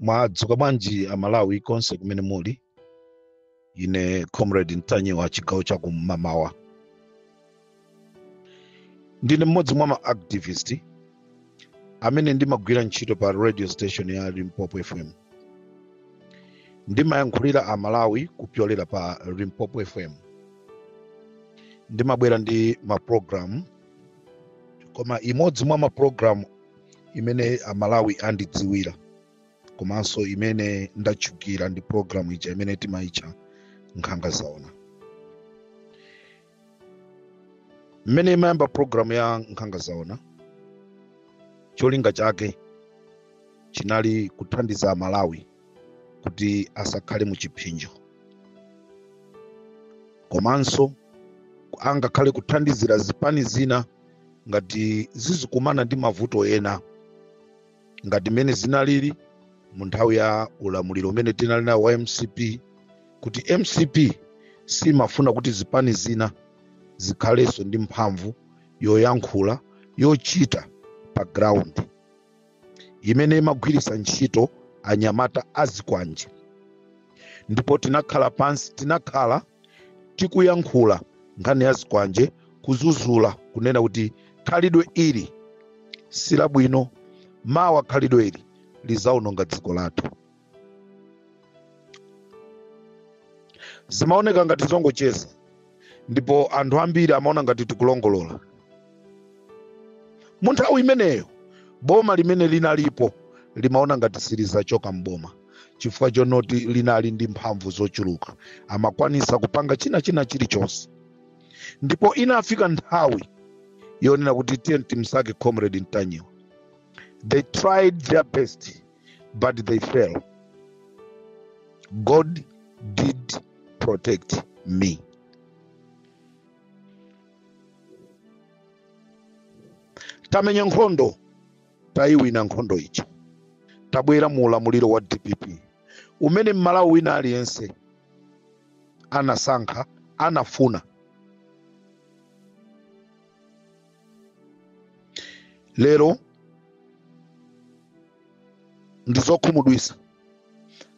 mwadzuka bwanji amalawi konse kumene muli ine comrade ntanyiwa chigawo cha kum'mawa ndine mmodzi mwa maactivist amene ndimagwira ntchito pa radio station ya limpopo fm ndimayankhulira amalawi kupyolera pa limpopo fm ndimabwera ndi mapulogalamu koma imodzi mwa mapulogalamu imene amalawi andidziwira komanso imene ndatchukira ndi pulogalamu ija imene timayitcha nkhanga zaona mmene imayamba pulogalamu ya nkhanga zaona cholinga chake chinali kuthandiza amalawi kuti asakhale mu chipsinjo komanso angakhale kuthandizira zipani zina ngati zizikumana ndi mavuto ena ngati mmene zinalili mu nthawi ya ulamuliro umene tinali nawo wa mcp kuti mcp simafuna kuti zipani zina zikhalenso ndi mphamvu yoyankhula yochita pa ground imene imagwiritsa ntchito anyamata azikwanje ndipo tinakhala pansi tinakhala tikuyankhula nkhani ya zikwanje kuzuzula kunena kuti khalidwe ili silabwino mawa khalidwe ili lizaononga dziko lathu zimaoneka ngati zongocheza ndipo anthu ambiri amaona ngati tikulongolola mu nthawi imeneyo boma limene linalipo limaona ngati silizachoka mboma chifukwa chonoti linali ndi mphamvu zochuluka amakwanisa kupanga china china chilichonse ndipo inafika nthawi yonena kuti timsake comrade ntanyiwa they tried their best but they failed. God did protect me. Tamenya nkhondo, tayiwina nkhondo ija. Tabwera mu ulamuliro wa DPP. Umene m'Malawi wina aliyense anasankha, anafuna. lero ndi zokhumudwisa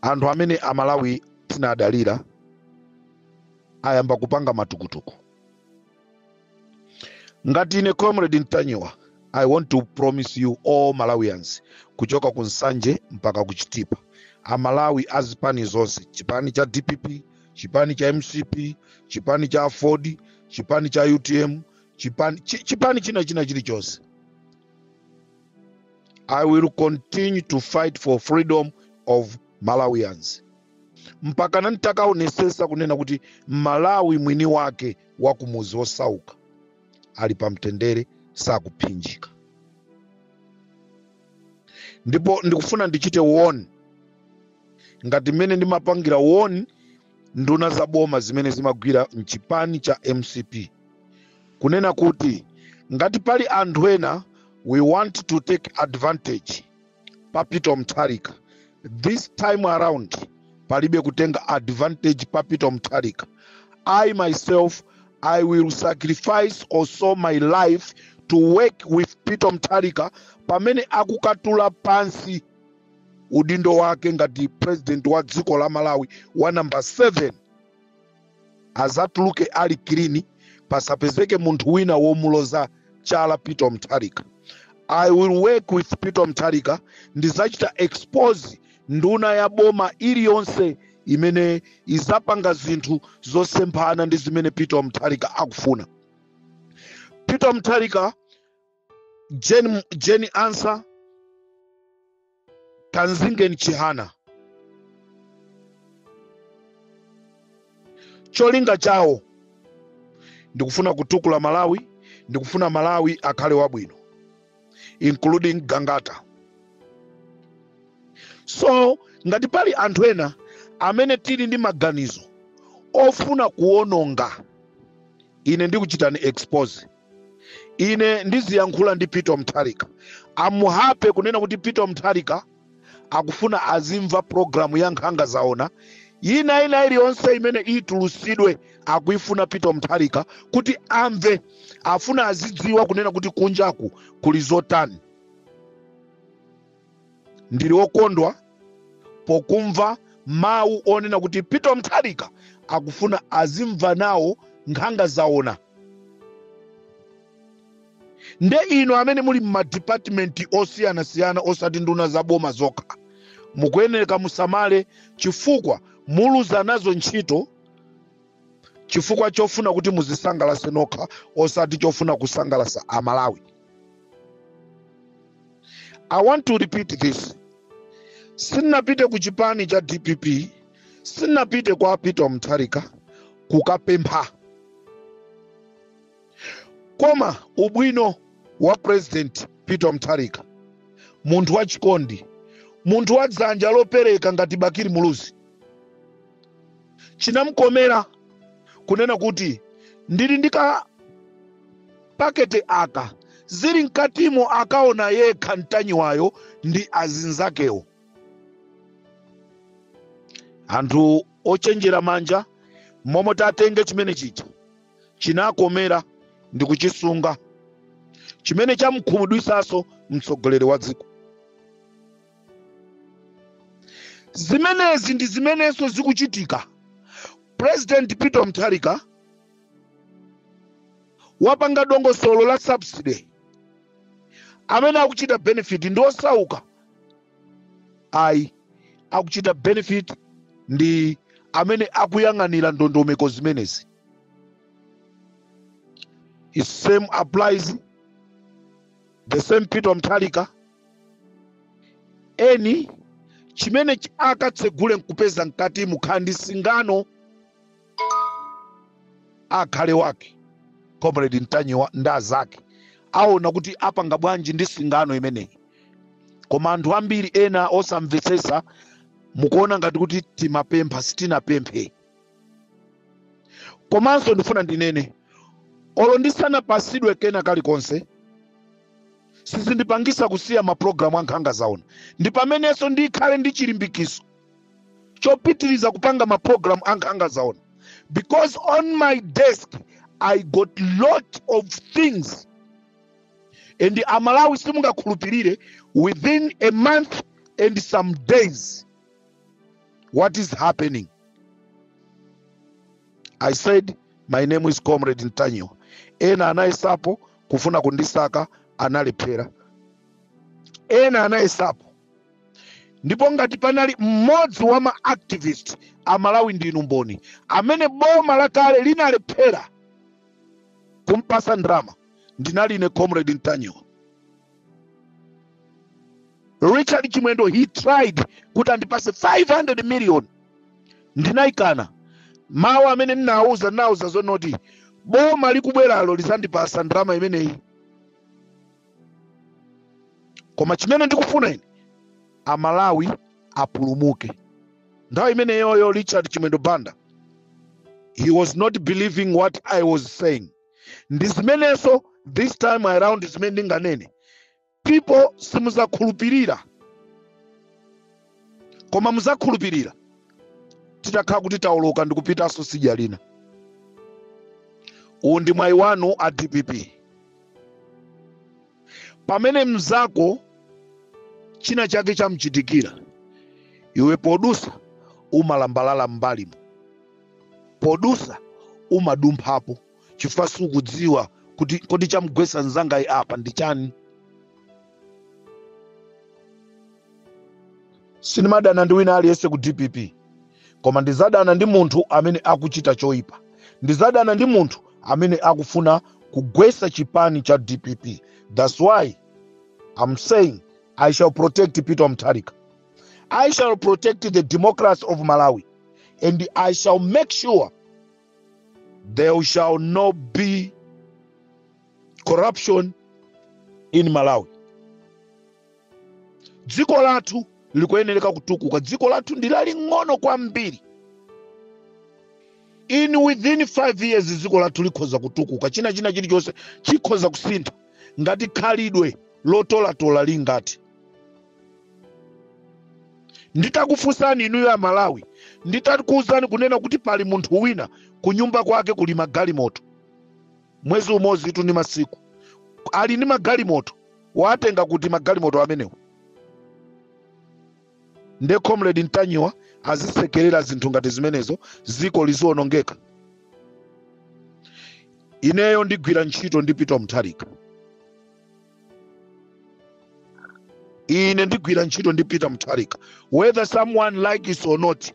anthu amene amalawi tinadalira ayamba kupanga matukutuku ngati ine comrade ntanyiwa i want to promise you all malawians kuchoka ku nsanje mpaka ku chitipa amalawi a zipani zonse chipani cha dpp chipani cha mcp chipani cha aford chipani cha utm chipani chi- chipani china china chilichonse i will continue to fight for freedom of malawians mpaka nanditakaonesesa kunena kuti malawi mwini wake wa kumuzi wosauka ali pamtendere sakuphinjika ndipo ndikufuna ndichite woni ngati mmene ndimapangira woni nduna za boma zimene zimagwira mchipani cha mcp kunena kuti ngati pali anthu ena we want to take advantage pa peter mutharika this time around palibe kutenga advantage pa peter mutharika i myself i will sacrifice also my life to work with peter mutharika pamene akukatula pansi udindo wake ngati president wa dziko la malawi wa namba 7 azatuluke ali kilini pasapezeke munthu wina womuloza chala peter mtharika i will work with peter mtharika ndizachita expose nduna ya boma iliyonse imene izapanga zinthu zosemphana ndi zimene peter mtharika akufuna peter mtharika Jane, Jane Ansa, Kamzingeni Chihana. Cholinga chawo ndikufuna kutukula Malawi, ndikufuna Malawi akhale wabwino including Gangata. So ngati pali anthu ena amene tili ndi maganizo ofuna kuononga ine ndikuchitani expose ine ndiziyankhula ndi peter mtharika amuhape kunena kuti peter mtharika akufuna azimva programu ya nkhanga zaona yina ina iliyonse imene itulusidwe akuifuna peter mtharika kuti amve afuna azidziwa kunena kuti kunjaku kuli zotani ndili okondwa pokumva mawu onena kuti peter mtharika akufuna azimva nawo nkhanga zaona nde inu amene muli m'madipatimenti osiyanasiyana osati nduna za boma zokha mukuyeneleka musamale chifukwa muluza nazo ntchito chifukwa chofuna kuti muzisangalase nokha osati chofuna kusangalasa amalawi i want to repeat this sinapite ku chipani cha dpp sinapite kwa peter mutharika kukapempha koma ubwino wa president peter mutharika munthu wachikondi munthu wa dzanja lopereka ngati bakiri muluzi chinamkomera kunena kuti ndili ndi ka pakete aka zili mkatimo akaona yekha ntanyiwayo ndi azinzakewo anthu ochenjera manja momo tatenge chimene chija chinamkomera ndi kuchisunga chimene chamkhumudwisaso mtsogoleri wa dziko zimenezi ndi zimenenso zikuchitika president peter mutharika wapanga dongosolo la subsidy amene akuchita benefit ndi osauka ayi akuchita benefit ndi amene akuyang'anira ndondomeko zimenezi it same applies the same peter mutharika eni chimene ch- akatsegule nkupeza mkatimo kaya ndi singano akhale wake comrade ntanyiwa ndi azake aona kuti apanga bwanji ndi singano imeneyi koma anthu ambiri ena osamvetsetsa mukuona ngati kuti timapempha sitinapemphe komanso ndifuna ndinene olo ndisanapasidwe kena kalikonse sizindipangisa kusiya mapulogalamu ankhanga zaona ndi pamenenso ndikhale ndi chilimbikiso chopitiriza kupanga maprogram a nkhanga zaona because on my desk i got lot of things and amalawi simungakhulupirire within a month and some days what is happening i said my name is comrade ntanyiwa ena anayesapo kufuna kundisaka analephera ena anayesapo ndipo ngati panali mmodzi wa ma activist a malawi ndinu mboni amene boma lakale linalephera kumpasa ndalama ndinali ine comrade ntanyiwa richard chimwendo he tried kuti andipase 500 million ndinayikana mawu amene ndinawuza ndinawuza zonoti boma likubweralo lizandipasa ndalama imeneyi koma chimene ndikufuna ine amalawi apulumuke nthawi imeneyoyo richard chimwendo banda he was not believing what i was saying ndi zimenenso this time around zimene ndinganene people simuzakhulupirira koma muzakhulupirira titakhala kuti taoloka ndi kupitanso sidya lina uwu ndi mwayi wanu a dpp pamene mnzako china chake chamchitikira iwe podusa umalambalala m'mbalimo podusa umadumphapo chifukwa sukudziwa kuti kodi chamgwetsa mnzangayi apa ndi chani sindimadana ndi wina aliyense ku dpp koma ndizadana ndi munthu amene akuchita choyipa ndizadana ndi munthu amene akufuna kugwetsa chipani cha dpp that's why i'm saying i shall protect peter mtharika i shall protect the democracy of malawi and i shall make sure there shall not be corruption in malawi dziko lathu likuyenereka kutukuka dziko lathu ndi laling'ono kwambiri in within five years dziko lathu likhoza kutukuka china china chilichonse chikhoza kusintha ngati khalidwe lotolatola lingati nditakufunsani inuyo amalawi nditakuuzani kunena kuti pali munthu wina kunyumba kwake kuli magalimoto mwezi umodzitu ndi masiku ali ndi magalimoto watenga kuti magalimoto amenewa nde comrade ntanyiwa azisekerera zinthu ngati zimenezo ziko lizionongeka ineyo ndigwira ntchito ndi peter mtharika ine ndigwira ntchito ndi peter mutharika whether someone likes it or not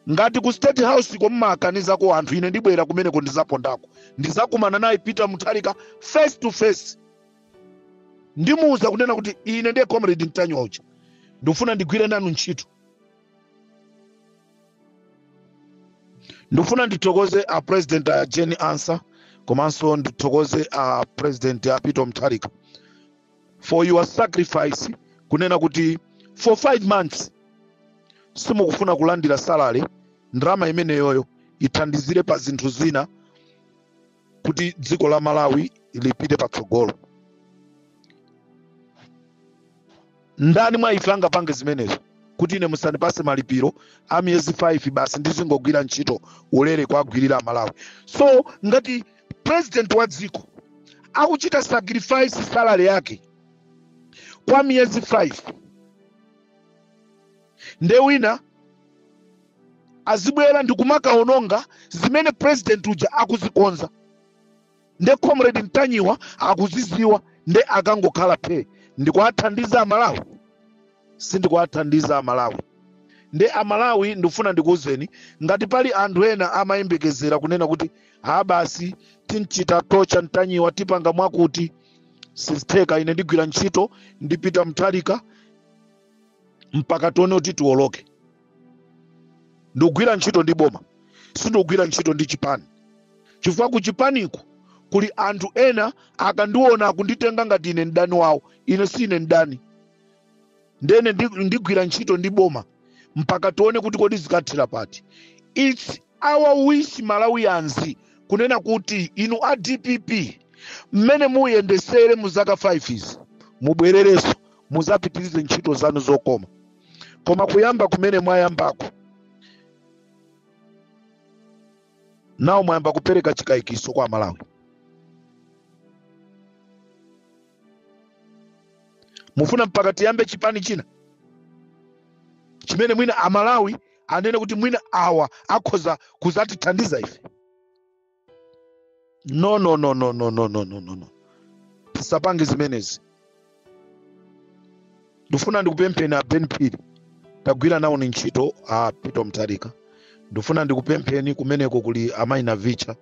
ngati ku state house ko mmakanizako anthu ine ndibwera kumeneko ndizapondako ndizakumana naye peter mutharika face to face ndimuuza kunena kuti ine ndi comrade ntanyiwa ndikufuna ndigwire nanu ntchito ndikufuna ndithokoze a president a jane ansah komanso ndithokoze a president a peter mtharika for your sacrifice kunena kuti for five months simukufuna kulandira salary ndalama imeneyoyo ithandizire pa zinthu zina kuti dziko la malawi lipite patsogolo ndani mwa ife angapange zimenezo kuti ine musandipase malipiro a miyezi 5 basi ndizingogwira ntchito ulere kuwagwirira amalawi so ngati president wa dziko akuchita sacrifice salary yake kwa miyezi 5 nde wina azibwera ndikumakawononga zimene president uja akuzikonza nde comrade mtanyiwa akuziziwa nde nkangokhala phe ndikuathandiza amalawi sindikuathandiza amalawi nde amalawi ndifuna ndikuuzeni ngati pali anthu ena amayembekezera kunena kuti ha basi timchita torture mtanyiwa tipanga mwakuti sizitheka ine ndigwira ntchito ndipita mthalika mpaka tione kuti tiwoloke ndigwira ntchito ndi boma sindigwira ntchito ndi chipani chifukwa ku chipaniko kuli anthu ena akandiona akunditenga ngati ine mdani wawo ine si ine mdani ndiye ine ndi- ndigwira ntchito ndi boma mpaka tione kuti kodi zikathela pati its our wish malawians kunena kuti inu a dpp mmene muyendetsere mu zaka 5 izi mubwererenso muzapitirize ntchito zanu zokoma koma kuyamba kumene mwayambako nako mwayamba kupereka chikayikitso kwa amalawi mufuna mpaka tiyambe chipani china chimene mwina amalawi anene kuti mwina awa akhoza kuzatithandiza ife no no no no no no no no no no tisapange zimenezi ndifuna ndikupempheni a ben phiri tagwira nawoni ntchito a peter mutharika ndifuna ndikupempheni kumeneko kuli amayi navicha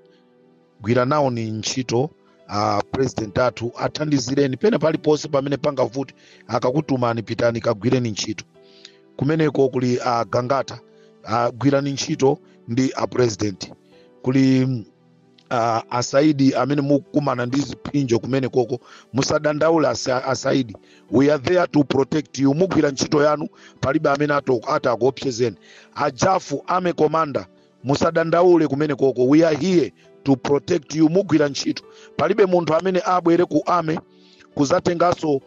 gwira nawoni ntchito uh, president athu athandizireni pena paliponse pamene pangavuti akakutumani pitani kagwireni ntchito kumeneko kuli uh, gangata uh, gwirani ntchito ndi a president kuli mm, uh, asaidi amene mukumana ndi ziphinjo kumenekoko musadandaule asa, asaidi we are there to protect you mugwira ntchito yanu palibe amene ato- atakuopsezeni ajafu army commander musadandaule kumenekoko we are here to protect you mugwira ntchito palibe munthu amene abwere ku army kuzatenganso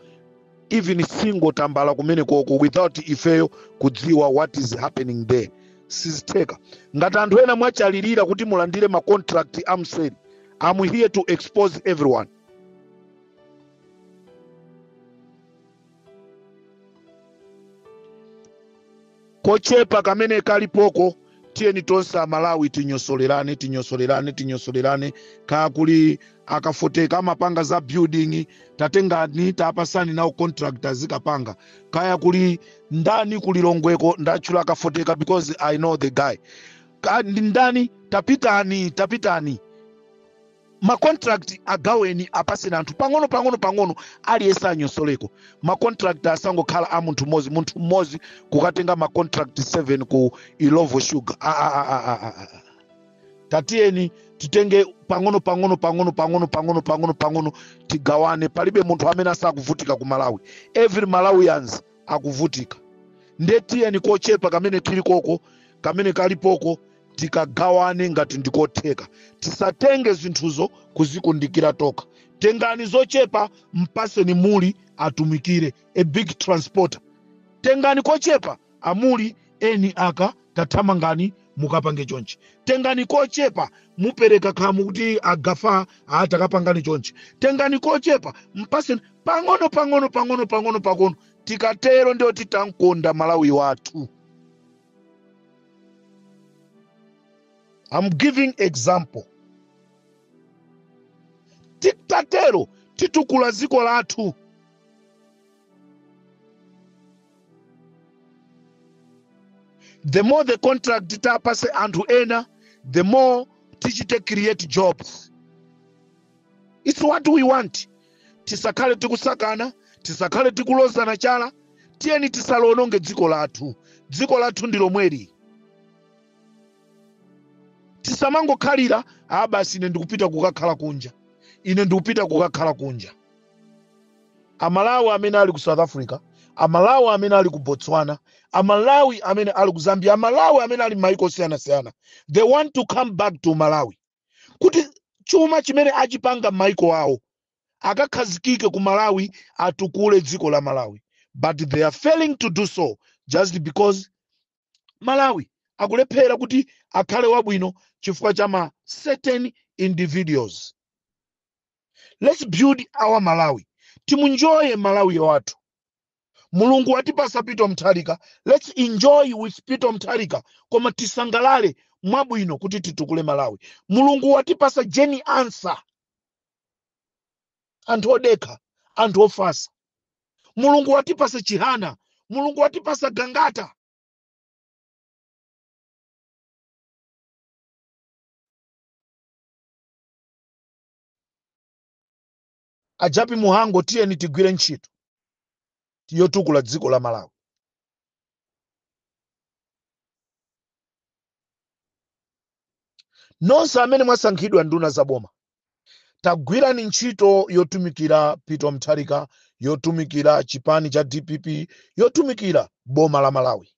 even single tambala kumenekoko without ifeyo kudziwa what is happening there sizitheka ngati anthu ena mwachalilira kuti mulandire ma contract amseri am here to expose everyone kochepa kamene kalipoko tiyeni tonse amalawi tinyosolerane tinyosolerane tinyosolerane kaya kuli akafoteka amapanga za building tatengani tapasani nawo contract azikapanga kaya kuli ndani kuli longweko ndatchula akafoteka because i know the guy Ka- ndi ndani tapitani tapitani ma contract agaweni apaseni anthu pang'ono pang'ono pang'ono aliyense anyosoleko ma contract asangokhala a munthu mmodzi munthu mmodzi kukatenga ma contract 7 ku illovo sugar ah, ah, ah, ah, ah, ah, ah. tatiyeni titenge pang'ono pang'ono pang'ono pang'ono pang'ono pang'ono pang'ono tigawane palibe munthu amene asakuvutika ku malawi every malawians akuvutika nde tiyeni kochepa kamene chilipoko kamene kalipoko tikagawane ngati ndikotheka tisatenge zinthuzo kuzikundikira tokha tengani zochepa mpaseni muli atumikire a big transporter tengani kochepa amuli eni aka tathamangani mukapange chonchi tengani kochepa mupereke khamu kuti agafa atakapangani chonchi tengani kochepa mpaseni pang'ono pang'ono pang'ono pang'ono pang'ono tikatero ndiye kuti tamkonda malawi wathu I'm giving example titatero titukula dziko lathu the more the contract tapase anthu ena the more tichite create jobs it's what we want tisakhale tikusakana tisakhale tikulozana chala tiyeni tisaliononge dziko lathu dziko lathu ndi lomweli tisamangokhalira a basi ine ndikupita kukakhala kunja ine ndikupita kukakhala kunja amalawi amene ali ku south africa amalawi amene ali ku botswana amalawi amene ali ku zambia amalawi amene ali m'mayiko osiyanasiyana they want to come back to malawi kuti chuma chimene achipanga m'maiko awo akakhazikike ku malawi atukule dziko la malawi but they are failing to do so just because malawi akulephera kuti akhale wabwino chifukwa cha ma certain individuals let's build our malawi timunjoye malawi wathu mulungu watipasa pito mtharika lets enjoy with pito mtharika koma tisangalale mwabwino kuti titukule malawi mulungu watipasa jeni ansa anthu odekha anthu ofasa mulungu watipasa chihana mulungu watipasa gangata A Jappie Mhango tiyeni tigwire ntchito yotukula dziko la Malawi. Nonse amene mwasankhidwa nduna za boma tagwirani ntchito yotumikira Peter Mutharika, yotumikira chipani cha dpp, yotumikira boma la Malawi.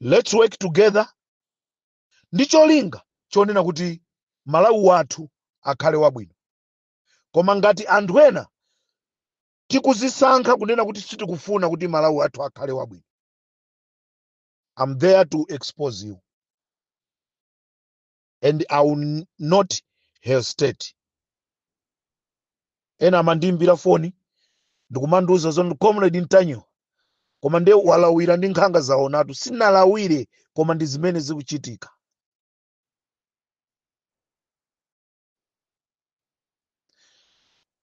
Let's work together ndi cholinga chonena kuti Malawi wathu akhale wabwino. Koma ngati anthu ena tikuzisankha kunena kuti sitikufuna kuti Malawi wathu akhale wabwino, I'm there to expose you and I will not hesitate. ena amandiimbira foni ndikumandiuza zoti comrade ntanyiwa koma nde walawira ndi nkhanga zaonatu sinalawire koma ndi zimene zikuchitika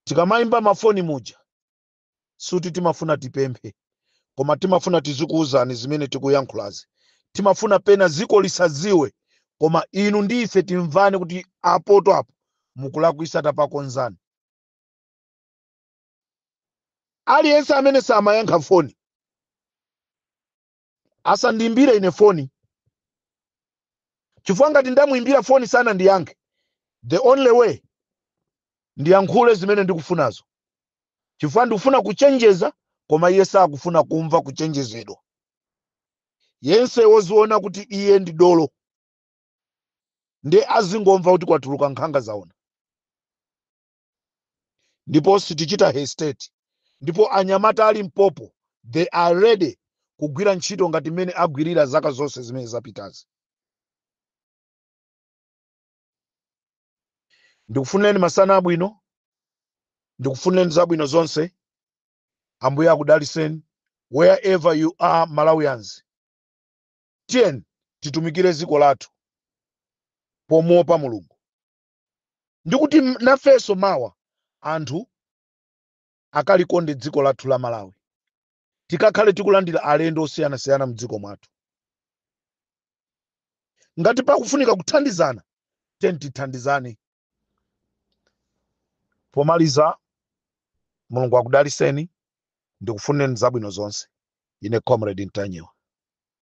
tikamayimba mafoni muja suti timafuna tipemphe koma timafuna tizikuwuzani zimene tikuyankhulazi timafuna pena ziko lisaziwe koma inu ndi ife timvane kuti apotu apo mukulakwisa tapakonzani aliyense amene samayankha foni asandiimbire ine foni chifukwa ngati ndamuimbira foni sanandiyankhe the only way ndiyankhule zimene ndikufunazo chifukwa ndikufuna kuchenjeza koma iye sakufuna kumva kuchenjezedwa yense woziona kuti iye ndi dolo nde azingomva kuti kwatuluka nkhanga zaona ndipo sitichita hesitate ndipo anyamata ali mpopo they are ready kugwira ntchito ngati mmene agwirira zaka zonse zimene zapitazi ndikufunireni masana abwino ndikufunireni zabwino zonse ambuye akudaliseni wherever you are malawians tiyeni titumikire dziko lathu pomuopa mulungu ndi kuti nafenso mawa anthu akalikonde dziko lathu la malawi tikakhale tikulandira alendo osiyanasiyana mdziko mwathu ngati pakufunika kuthandizana tiyeni tithandizane pomaliza mulungu akudaliseni ndikufunireni zabwino zonse ine comrade ntanyiwa